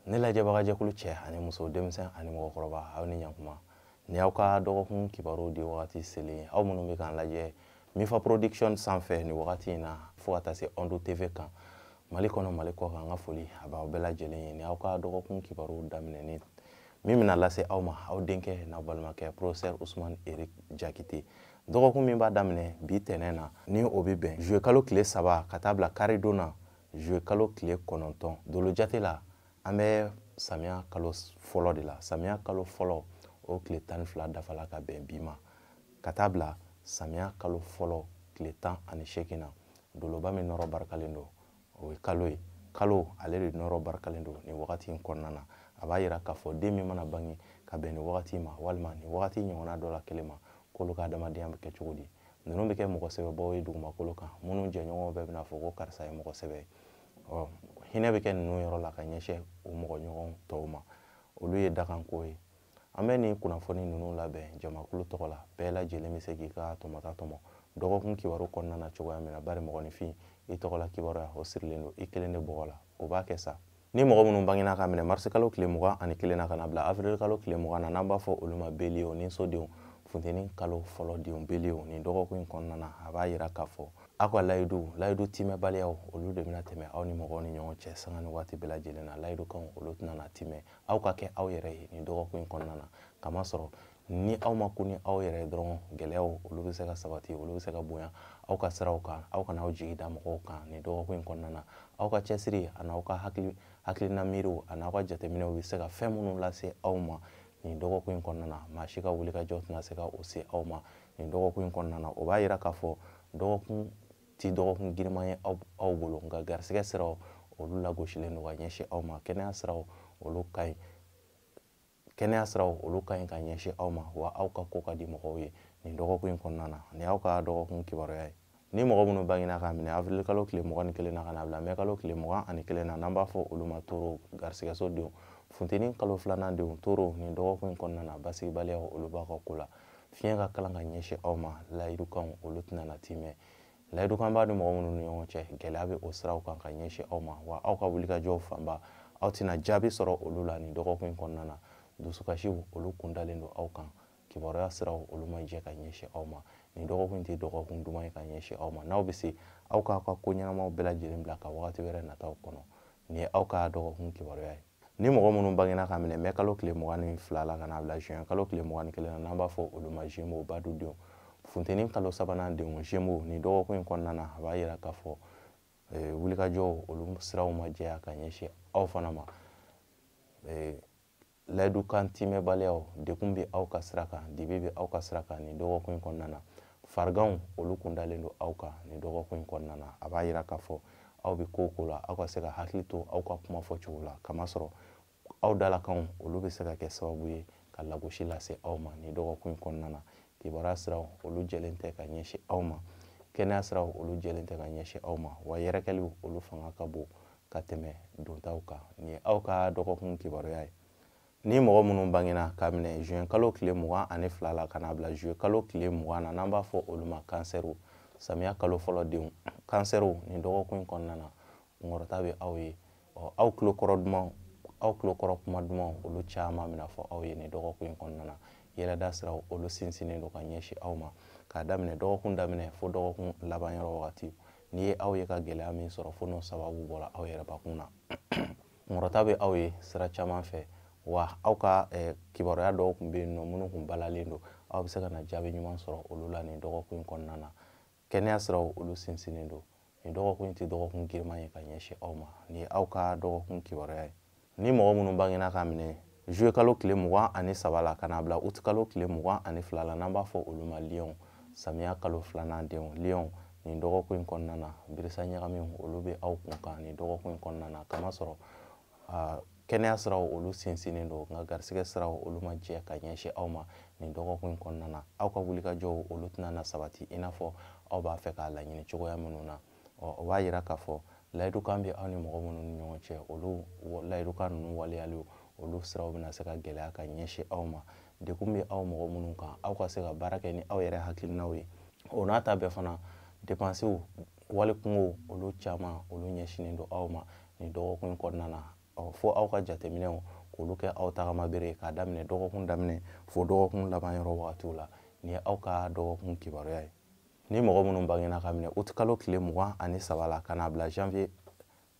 ne lajɛbagajɛkulu cɛ ani muso denmisɛn ani mɔgɔkɔrɔba aw ni ɲakuma ni aw ka dɔgɔkun kibaruw di wagati selen aw minnu bɛ k'an lajɛ mifa production sanfɛ nin wagati in na fo ka taa se ondo tv kan mali kɔnɔ mali kɔ kan n ka foli a b'aw bɛɛ lajɛlen ye ni aw ka dɔgɔkun kibaruw daminɛni min bɛna lase aw ma aw denkɛ n'aw balimakɛ professeur usman eric jakite dɔgɔkun min b'a daminɛ bi tɛnɛn na ni o bɛ bɛn zuye kalo tile saba ka taa bila karidon na zuye kalo tile kɔnɔntɔn dolo jate la an bɛ samiya kalo fɔlɔ de la samiya kalo fɔlɔ o tile tan ni fila dafala ka bɛn bi ma ka taa bila samiya kalo fɔlɔ tile tan ani seegin na doloba min nɔrɔ barikalen don o ye kalo ye kalo ale de nɔrɔ barikalen don nin wagati in kɔnɔna na a b'a yira k'a fɔ den min mana bange ka bɛn nin wagati ma walima nin wagati ɲɔgɔnna dɔ la kelen ma k'olu ka adamadenya bɛ kɛ cogo di ninnu bɛ kɛ mɔgɔ sɛbɛbaw ye dugumakolo kan minnu jɛɲɔgɔnw bɛɛ bɛna fɔ ko karisa ye mɔgɔ sɛbɛ ye ɔ hinɛ bɛ kɛ ninnu yɔrɔ la ka ɲɛsin u mɔgɔɲɔgɔn tɔw ma olu ye dakanko ye an bɛ nin kunnafoni ninnu labɛn jamakulu tɔgɔ la bɛɛ lajɛlen bɛ se k'i ka tɔmɔta tɔmɔ dɔgɔkun kibaru kɔnɔna na cogoya min na bari mɔgɔninfin i tɔgɔla kibaruya o sirilen don i kelen de bɔgɔ la o b'a kɛ sa ni mɔgɔ minnu bangena k'a minɛ marisi kalo tile mugan ani kelen na ka na bila avril kalo tile mugan na n'an b'a fɔ olu ma beliyew niso denw funteni kalo fɔlɔ denw beliyew nin dɔgɔkun in kɔnɔna na a b'a yira k'a fɔ aw ka layidu layidu timɛbaliyaw olu de bɛna tɛmɛ aw ni mɔgɔw ni ɲɔgɔn cɛ sanga ni waati bɛɛ lajɛlen na layidukanw olu tɛna na timɛ aw ka kɛ aw yɛrɛ ye nin dɔgɔkun in kɔnɔna na kamasɔrɔ ni aw ma kun ni aw yɛrɛ dɔrɔn gɛlɛyaw olu bɛ se ka sabati olu bɛ se ka bonya aw ka siraw kan aw kana aw jigi da mɔgɔw kan nin dɔgɔkun in kɔnɔna na aw ka cɛsiri ani aw ka hakili hakilina miiriw ani aw ka jateminɛw bɛ se ka fɛn minnu lase aw ma nin dɔgɔkun in kɔnɔna na maa si ka wulikajɔ tɛna se ka o se aw ma nin dɔgɔkun in kɔnɔna na o b'a yira k'a fɔ dɔgɔkun tɛ dɔgɔkun girinman ye aw aw bolo nka garisigɛ siraw olu lagosilen don ka ɲɛsin aw ma kɛnɛya siraw olu ka ɲi kɛnɛya siraw olu ka ɲi ka ɲɛsin aw ma wa aw ka ko ka di mɔgɔw ye nin dɔgɔkun in kɔnɔna na nin y'aw ka dɔgɔkun kibaruya ye ni mɔgɔ minnu bangena k'a minɛ avril kalo tile mugan ni kelen na ka na bila mɛ kalo tile mugan ani kelen na n'an b'a fɔ olu ma toro garisigɛso denw funteni kalo filanan denw toro nin dɔgɔkun in kɔnɔna na basigibaliyaw olu b'aw ka ko la fiɲɛ ka kalan ka ɲɛsin aw ma layidukanw olu tɛna na timɛ layidukan b'aw ni mɔgɔ minnu ni ɲɔgɔn cɛ gɛlɛya bɛ o siraw kan ka ɲɛsin aw ma wa aw ka wulikajɔw fanba aw tɛna jaabi sɔrɔ olu la nin dɔgɔkun in kɔnɔna na dusukasiw olu kundalen don aw kan kibaruya siraw olu ma jɛ ka ɲɛsin aw ma nin dɔgɔkun in tɛ dɔgɔkun duman ye ka ɲɛsin aw ma n'aw bɛ se aw k'aw ka ko ɲɛnamaw bɛɛ lajɛlen bila ka wagati wɛrɛ nataw kɔnɔ nin ye aw ka dɔgɔkun kibaruya ye ni mɔgɔ minnu bangena ka minɛ mɛ kalo tile mugan ni fila la ka n'a bila juin kalo tile mugan ni kelen na n'an b'a fɔ olu ma zemo badu denw funteni kalo sabanan denw zemo nin dɔgɔkun in kɔnɔna na a b'a yira k'a fɔ eh, wulikajɔw olu siraw ma jɛya ka ɲɛsin aw fana ma eh, layidukan timɛbaliyaw dekun bɛ aw ka sira kan dibi bɛ aw ka sira kan nin dɔgɔkun in kɔnɔna na fariganw olu kun dalen don aw kan nin dɔgɔkun in kɔnɔna na a b'a yira k'a fɔ aw bɛ ko o ko la aw ka se ka hakili to aw ka kuma fɔcogo la kamasɔrɔ aw dalakanw olu bɛ se ka kɛ sababu ye ka lagosi lase aw ma nin dɔgɔkun in kɔnɔna na kibaruya siraw olu jɛlen tɛ ka ɲɛsin aw ma kɛnɛya siraw olu jɛlen tɛ ka ɲɛsin aw ma wa yɛrɛkɛliw olu fanga ka bon ka tɛmɛ dontaw kan nin ye aw ka dɔgɔkun kibaruya ye ni mɔgɔ minnu bangena ka minɛ juin kalo tile mugan ani fila la ka n'a bila juillet kalo tile mugan na n'an b'a fɔ olu ma kansɛriw samiya kalo fɔlɔ denw kansɛriw nin dɔgɔkun in kɔnɔna na kunkɔrɔta bɛ aw ye ɔ aw tulo kɔrɔ dumanw aw tulo kɔrɔ kuma dumanw olu caman bɛna fɔ aw ye nin dɔgɔkun in kɔnɔna na yɛlɛda siraw olu sinsinnen don ka ɲɛsin aw ma k'a daminɛ dɔgɔkun daminɛ fo dɔgɔkun laban yɔrɔ wagati n'i ye aw ye ka gɛlɛya min sɔrɔ fo n'o sababu bɔra aw yɛrɛbakun na kunkɔrɔta bɛ aw ye sira caman fɛ wa aw ka eh, kibaruya dɔw tun bɛ yen nɔ minnu tun balalen don aw bɛ se ka na jaabi ɲuman sɔrɔ olu la nin dɔgɔkun in kɔnɔna na kɛnɛya siraw olu sinsinnen don nin dɔgɔkun in tɛ dɔgɔkun giriman ye ka ɲɛsin aw ma nin ye aw ka dɔgɔkun kibaruya ye ni mɔgɔ minnu bangena ka minɛ juillet kalo tile mugan ani saba la ka n'a bila uti kalo tile mugan ani fila la n'an b'a fɔ olu ma liyɔnw samiya kalo filanan denw liyɔnw nin dɔgɔkun in kɔnɔna na birisa ɲagamiw olu bɛ aw kun kan nin dɔgɔkun in kɔnɔna na kamasɔrɔ aa kɛnɛya siraw olu sinsinnen don nka garisigɛ siraw olu ma jɛ ka ɲɛsin aw ma nin dɔgɔkun in kɔnɔna na aw ka wulikajɔw olu tɛna na sabati i n'a fɔ aw b'a fɛ k'a laɲini cogoya minnu na ɔ o b'a yira k'a fɔ layidukan bɛ aw ni mɔgɔ minnu ni ɲɔgɔn cɛ olu layidukan ninnu waleyaliw olu siraw bɛna se ka gɛlɛya ka ɲɛsin aw ma dekun bɛ aw mɔgɔ minnu kan aw ka se ka baara kɛ ni aw yɛrɛ hakilinaw ye o n'a ta bɛɛ fana depansew wali kunko olu caman olu ɲɛsinnen don aw ma nin dɔgɔkun kɔnɔna na fo aw ka jateminɛw k'olu kɛ aw tagama bere ye k'a daminɛ dɔgɔkun daminɛ fo dɔgɔkun laban yɔrɔ wagatiw la nin ye aw ka dɔgɔkun kibaruya ye ni mɔgɔ minnu bangena ka minɛ utikalo tile mugan ani saba la ka n'a bila janvier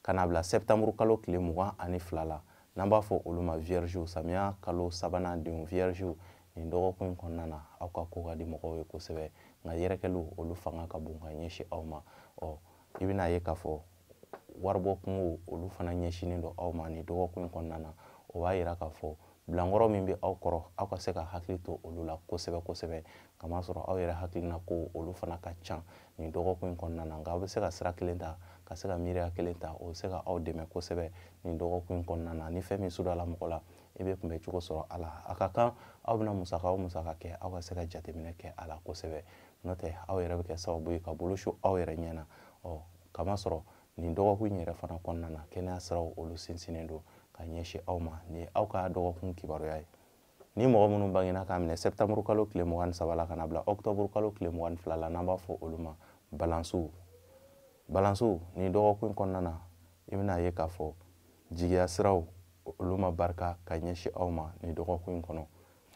ka n'a bila sɛptanburu kalo tile mugan ani fila la n'an b'a fɔ olu ma viergew samiya kalo sabanan denw viergew nin dɔgɔkun in kɔnɔna na aw ka ko ka di mɔgɔw ye kosɛbɛ nka yɛrɛkɛliw olu fanga ka bon ka ɲɛsin aw ma ɔ i bɛna ye k'a fɔ waribɔ kunko olu fana ɲɛsinnen don aw ma nin dɔgɔkun in kɔnɔna na o b'a yira k'a fɔ bilankɔrɔ min bɛ aw kɔrɔ aw ka se ka hakili to olu la kosɛbɛ kosɛbɛ kamasɔrɔ aw yɛrɛ hakilina ko olu fana ka ca nin dɔgɔkun in kɔnɔna na nka aw bɛ se ka sira kelen ta ka se ka miiriya kelen ta o bɛ se ka aw dɛmɛ kosɛbɛ nin dɔgɔkun in kɔnɔna na ni fɛn min sudala mɔgɔ la i bɛ kunbɛn cogo sɔrɔ a la a ka kan aw bɛna musaka o musaka kɛ aw ka se ka jateminɛ kɛ a la kosɛbɛ n'o tɛ aw yɛrɛ bɛ kɛ sababu ye ka bolo su aw yɛrɛ ɲɛ na ɔ kamasɔrɔ nin dɔgɔkun in yɛrɛ fana kɔnɔna na kɛnɛya siraw olu sinsinnen don ka ɲɛsin aw ma nin ye aw ka dɔgɔkun kibaruya ye ni mɔgɔ minnu bangena k'a minɛ sɛtanburu kalo tile mugan ni saba la ka na bila ɔkutɔburu kalo tile mugan ni fila la n'an b'a fɔ olu ma balansiw balansiw nin dɔgɔkun kɔnɔna na i bɛna ye k'a fɔ jigiya siraw olu ma barika ka ɲɛsin aw ma nin dɔgɔkun in kɔnɔ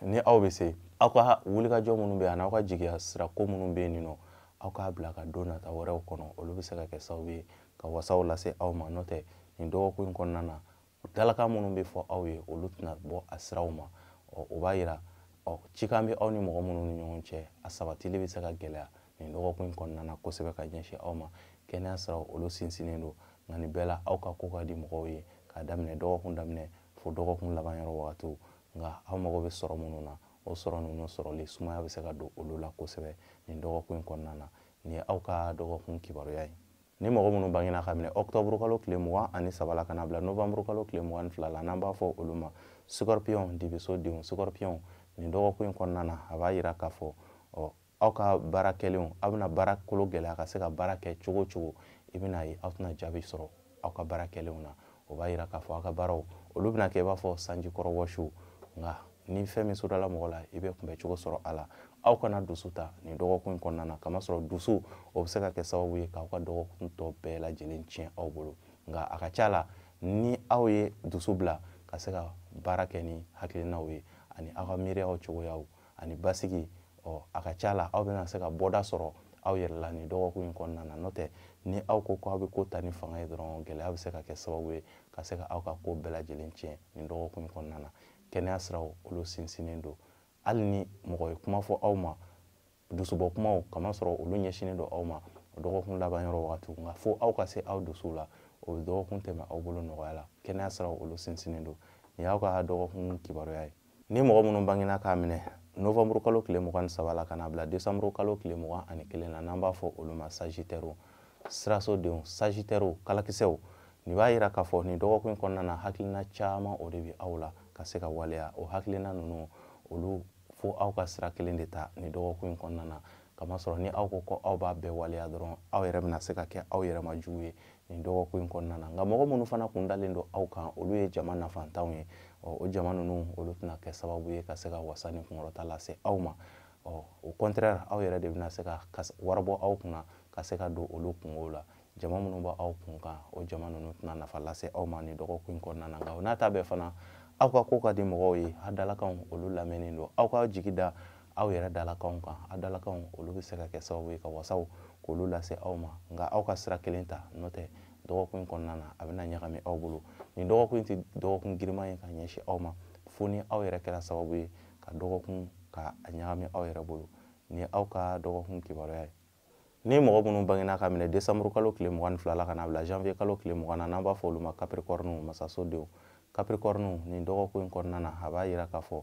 ni aw bɛ se aw ka wulikajɔ minnu bɛ yan n'aw ka jigiya sira ko minnu bɛ yen nin nɔ aw k'a bila ka don nata wɛrɛw kɔnɔ olu bɛ se ka kɛ sababu ye ka wasaw lase aw ma n'o tɛ nin dɔgɔkun in kɔnɔna na dalakan minnu bɛ fɔ aw ye olu tɛna bɔ a siraw ma ɔ o b'a yira ɔ cikan bɛ aw ni mɔgɔ minnu ni ɲɔgɔn cɛ a sabatili bɛ se ka gɛlɛya nin dɔgɔkun in kɔnɔna na kosɛbɛ ka ɲɛsin aw ma kɛnɛya siraw olu sinsinnen don nka nin bɛɛ la aw ka ko ka di mɔgɔw ye k'a daminɛ dɔgɔkun daminɛ fo dɔgɔkun laban yɔrɔ wagatiw nka aw mago bɛ sɔrɔ minnu na o sɔrɔ ninnu sɔrɔli sumaya bɛ se ka don olu la kosɛbɛ nin dɔgɔkun in kɔnɔna na nin ye aw ka dɔgɔkun kibaruya ye ni mɔgɔ minnu bangena k'a minɛ ɔkutɔburu kalo tile mugan ani saba la ka na bila novanburu kalo tile mugan ni fila la n'an b'a fɔ olu ma sukɔripiyɔn dibiso denw sukɔripiyɔn nin dɔgɔkun in kɔnɔna na a b'a yira k'a fɔ ɔ aw ka baara kɛlenw aw bɛna baara kolo gɛlɛya ka se ka baara kɛ cogo o cogo i bɛna ye aw tɛna jaabi sɔrɔ aw ka baara kɛlenw na o b'a yira k'a fɔ aw ka baaraw olu bɛna kɛ i b'a fɔ sanji kɔrɔ wɔsiw nka ni fɛn min sudala mɔgɔ la i bɛ kunbɛn cogo sɔrɔ a la aw kana dusu ta nin dɔgɔkun in kɔnɔna na kamasɔrɔ dusu o bɛ se ka kɛ sababu ye k'aw ka dɔgɔkun tɔ bɛɛ lajɛlen tiɲɛ aw bolo nka a ka ca la ni aw ye dusu bila ka se ka baara kɛ ni hakilinaw ye ani aw ka miiriyaw cogoyaw ani basigi ɔ a ka ca la aw bɛna se ka bɔda sɔrɔ aw yɛrɛ la nin dɔgɔkun in kɔnɔna na n'o tɛ ni aw ko ko aw bɛ ko ta ni fanga ye dɔrɔn gɛlɛya bɛ se ka kɛ sababu ye ka se ka aw ka ko bɛɛ lajɛlen tiɲɛ nin dɔgɔkun in kɔnɔna na kɛnɛya siraw olu sinsinnen don hali ni mɔgɔ ye kuma fɔ aw ma dusubɔ kumaw kamasɔrɔ olu ɲɛsinnen don aw ma dɔgɔkun laban yɔrɔ wagati nka fo aw ka se aw dusuw la o bɛ dɔgɔkun tɛmɛ aw bolo nɔgɔya la kɛnɛya siraw olu sinsinnen don nin y'aw ka dɔgɔkun kibaruya ye ni mɔgɔ minnu bangena k'a minɛ novanburu kalo tile mugan ni saba la ka na bila desanburu kalo tile mugan ani kelen na n'an b'a fɔ olu ma sagitɛriw sirasodenw sagitɛriw kalakisɛw nin b'a yira k'a fɔ nin dɔgɔkun kɔnɔna na hakilina caman o de bɛ aw la ka se ka waleya o hakilina ninnu olu fo aw ka sira kelen de ta nin dɔgɔkun kɔnɔna na kamasɔrɔ ni aw ko ko aw b'a bɛɛ waleya dɔrɔn aw yɛrɛ bɛna se ka kɛ aw yɛrɛ ma jugu ye nin dɔgɔkun in kɔnɔna na nka mɔgɔ minnu fana kun dalen don aw kan olu ye jama nafantanw ye ɔ o jama ninnu olu tɛna kɛ sababu ye ka se ka wasa ni kunkɔrɔta lase aw ma ɔ au contraire aw yɛrɛ de bɛna se ka wari bɔ aw kunna ka se ka don olu kungow la jama minnu bɛ aw kun kan o jama ninnu tɛna nafa lase aw ma nin dɔgɔkun in kɔnɔna na nka o n'a ta bɛɛ fana aw ka ko ka di mɔgɔw ye a dalakanw olu lamɛnnen don aw ka jigi da aw yɛrɛ dalakanw kan a dalakanw olu bɛ se ka kɛ sababu ye ka wasaw ko olu lase aw ma nka aw ka sira kelen ta n'o tɛ dɔgɔkun in kɔnɔna na a bɛna ɲagami aw bolo nin dɔgɔkun in tɛ dɔgɔkun girinman ye ka ɲɛsin aw ma fo ni aw yɛrɛ kɛra sababu ye ka dɔgɔkun ka a ɲagami aw yɛrɛ bolo nin ye aw ka dɔgɔkun kibaruya ye ni mɔgɔ minnu bangena ka minɛ desanburu kalo tile mugan ni fila la ka na bila janvier kalo tile mugan na n'an b'a fɔ olu ma capricorne masasodenw capricorne nin dɔgɔkun in kɔnɔna na a b'a yira k'a fɔ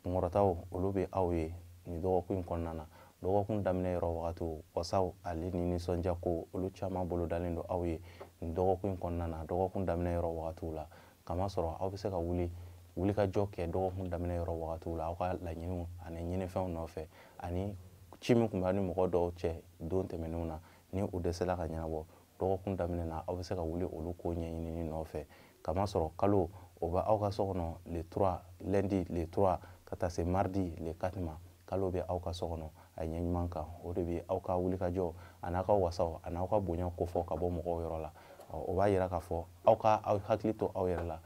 kunkɔrɔtaw olu bɛ aw ye nin dɔgɔkun in kɔnɔna na dɔgɔkun daminɛ yɔrɔ wagatiw wasaw ale ni nisɔndiya ko olu caman bolodalen don aw ye nin dɔgɔkun in kɔnɔna na dɔgɔkun daminɛ yɔrɔ wagatiw la kamasɔrɔ aw bɛ se ka wuli wulikajɔ kɛ dɔgɔkun daminɛ yɔrɔ wagatiw la aw ka laɲiniw ani ɲinifɛnw nɔfɛ ani ci min tun b'a ni mɔgɔ dɔw cɛ don tɛmɛnenw na ni o dɛsɛla ka ɲɛnabɔ dɔgɔkun daminɛ na aw bɛ se ka wuli olu ko ɲɛɲinini nɔfɛ kamasɔrɔ kalo o bɛ aw ka so kɔnɔ le 3 lundi le 3 ka taa se mardi le 4 ma kalo bɛ aw ka so kɔnɔ a ɲɛ ɲuman kan o de bɛ aw ka wulikajɔ a n'aw ka wasaw a n'aw ka bonya kofɔ ka bɔ mɔgɔw yɔrɔ la o b'a yira k'a fɔ aw ka aw hakili to aw yɛrɛ la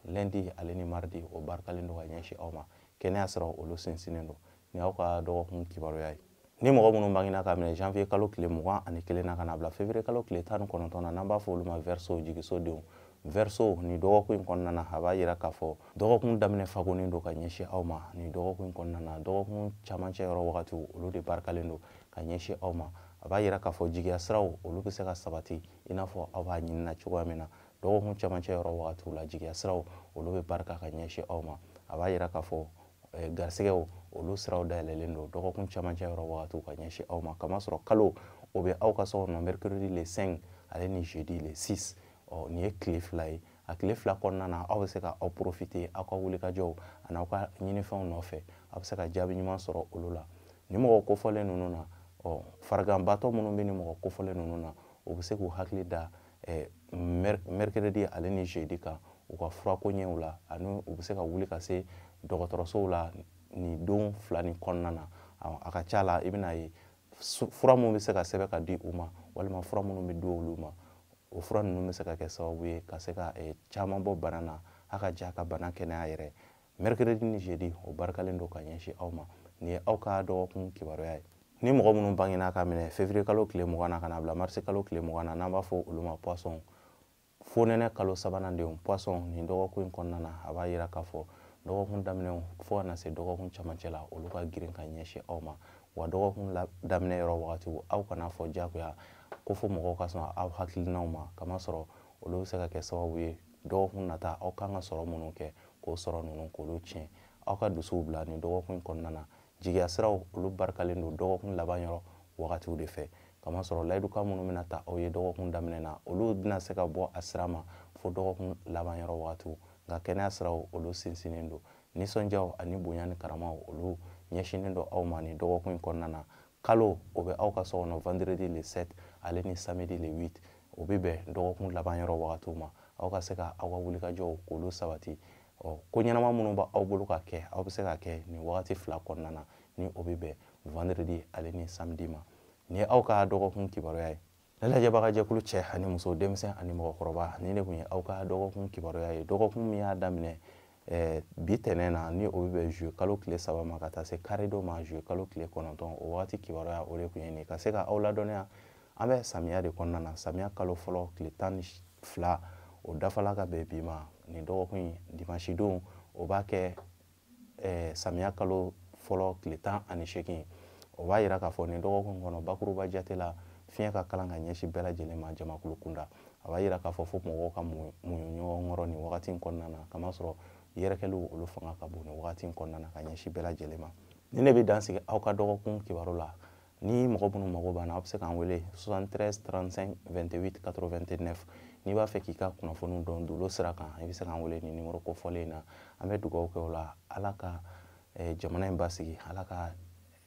lundi ale ni mardi o barikalen don ka ɲɛsin aw ma kɛnɛya siraw olu sinsinnen don nin ye aw ka dɔgɔkun kibaruya ye ni mɔgɔ minnu bangena ka minɛ janvier kalo tile mugan ani kelen na ka na bila février kalo tile tan ni kɔnɔntɔn na n'an b'a fɔ olu ma verseau jigisodenw verseau nin dɔgɔkun in kɔnɔna na a b'a yira k'a fɔ dɔgɔkun daminɛ fagonnen don ka ɲɛsin aw ma nin dɔgɔkun in kɔnɔna na dɔgɔkun camancɛ yɔrɔ wagatiw olu de barikalen don ka ɲɛsin aw ma a b'a yira k'a fɔ jigiya siraw olu bɛ se ka sabati i n'a fɔ aw b'a ɲinina cogoya min na dɔgɔkun camancɛ yɔrɔ wagatiw la jigiya siraw olu bɛ barika ka ɲɛsin aw ma a b'a yira k'a fɔ eh, garisɛgɛw olu siraw dayɛlɛlen don dɔgɔkun camancɛ yɔrɔ wagatiw ka ɲɛsin aw ma kamasɔrɔ kalo o bɛ aw ka so kɔnɔ mercredi le 5 ale ni jeudi le 6 ɔ nin ye tile fila ye a tile fila kɔnɔna na aw bɛ se ka aw profiter aw ka wulikajɔw ani aw ka ɲinifɛnw nɔfɛ aw bɛ se ka jaabi ɲuman sɔrɔ olu la nin mɔgɔ kofɔlen ninnu na ɔ fariganbatɔ minnu bɛ nin mɔgɔ kofɔlen ninnu na u bɛ se k'u hakili da mercredi ale ni jeudi kan u ka fura koɲɛw la ani u bɛ se ka wuli ka se dɔgɔtɔrɔsow la nin don fila nin kɔnɔna na a ka ca la i bɛna ye fura minnu bɛ se ka sɛbɛn ka di u ma walima fura minnu bɛ di olu ma o fura ninnu bɛ se ka kɛ sababu ye ka se ka eh, caman bɔ bana na a ka ja ka bana kɛnɛya yɛrɛ mercredi ni jeudi o barikalen don ka ɲɛsin aw ma nin ye aw ka dɔgɔkun kibaruya ye ni mɔgɔ minnu bangena ka minɛ février kalo tile mugan na ka na bila marisi kalo tile mugan na n'an b'a fɔ olu ma poisson fonɛnɛ kalo sabanan denw poisson nin dɔgɔkun in kɔnɔna na a b'a yira k'a fɔ dɔgɔkun daminɛw fo ka na se dɔgɔkun camancɛ la olu ka girin ka ɲɛsin aw ma wa dɔgɔkun daminɛ yɔrɔ wagatiw aw kana fɔ jagoya ko fo mɔgɔw ka sɔn aw hakilinaw ma kamasɔrɔ olu bɛ se ka kɛ sababu ye dɔgɔkun nata aw kan ka sɔrɔ minnu kɛ k'o sɔrɔ ninnu k'olu tiɲɛ aw ka dusuw bila nin dɔgɔkun in kɔnɔna na jigiya siraw olu barikalen don dɔgɔkun laban yɔrɔ wagatiw de fɛ kamasɔrɔ layidukan minnu bɛna ta aw ye dɔgɔkun daminɛ na olu bɛna se ka bɔ a sira ma fo dɔgɔkun laban yɔrɔ wagatiw nka kɛnɛya siraw olu sinsinnen don nisɔndiyaw ani bonya ni karamaw olu ɲɛsinnen don aw ma nin dɔgɔkun in kɔnɔna na kalo o bɛ aw ka so kɔnɔ vendredi le 7 ale ni samedi le 8 o bɛ bɛn dɔgɔkun laban yɔrɔ wagatiw ma aw ka se ka aw ka wulikajɔw k'olu sabati ɔ ko ɲɛnama minnu b'aw bolo ka kɛ aw bɛ se ka kɛ nin wagati fila kɔnɔna na ni o bɛ bɛn vendredi ale ni samedi ma nin ye aw ka dɔgɔkun kibaruya ye ne lajɛbaga jɛkulu cɛ ani muso denmisɛn ani mɔgɔkɔrɔba nin de tun ye aw ka dɔgɔkun kibaruya ye dɔgɔkun min y'a daminɛ eh, bi tɛnɛn na ni o bɛ bɛn juillet kalo tile saba ma ka taa se karidon ma juillet kalo tile kɔnɔntɔn o wagati kibaruya o de tun ye nin ka se ka aw ladɔnniya an bɛ samiya de kɔnɔna na samiya kalo fɔlɔ tile tan ni fila o dafala ka bɛn bi ma nin dɔgɔkun in dimansi don o b'a kɛ eh, samiya kalo fɔlɔ tile tan ani seegin o b'a yira k'a fɔ nin dɔgɔkun kɔnɔ bakuruba jate la fiɲɛ ka kalan ka ɲɛsin bɛɛ lajɛlen ma jamakulu kunda a b'a yira k'a fɔ fo mɔgɔw ka muɲu ɲɔgɔn kɔrɔ nin wagati in kɔnɔna na kamasɔrɔ yɛrɛkɛliw olu fanga ka bon nin wagati in kɔnɔna na ka ɲɛsin bɛɛ lajɛlen ma nin de bɛ dan sigi aw ka dɔgɔkun kibaru la ni mɔgɔ minnu mago b'an na aw bɛ se k'an wele 73 35 28 89 n'i b'a fɛ k'i ka kunnafoniw dɔn dolo sira kan i bɛ se k'an wele nin nimoro kofɔlen in na an bɛ dugawu kɛ o la ala ka eh, jamana in basigi ala ka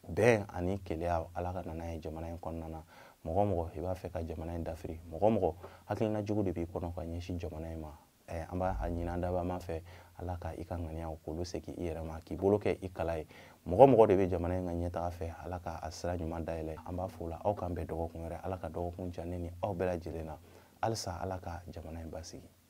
bɛn ani kelenya ala ka na n'a ye jamana in kɔnɔna na mɔgɔ o mɔgɔ i b'a fɛ ka jamana in dafiri mɔgɔ o mɔgɔ hakilina jugu de b'i kɔnɔ ka ɲɛsin jamana in ma eh, an b'a ɲini an dabaa ma fɛ ala ka i ka ŋaniyaw k'olu segin i yɛrɛ ma k'i bolo kɛ i kala ye mɔgɔ o mɔgɔ de bɛ jamana in ka ɲɛtaga fɛ ala ka a sira ɲuman dayɛlɛ an b'a fɔ o la aw k'an bɛn dɔgɔkun wɛrɛ ala ka dɔgɔkun diya ne ni aw bɛɛ lajɛlen na halisa ala ka jamana in basigi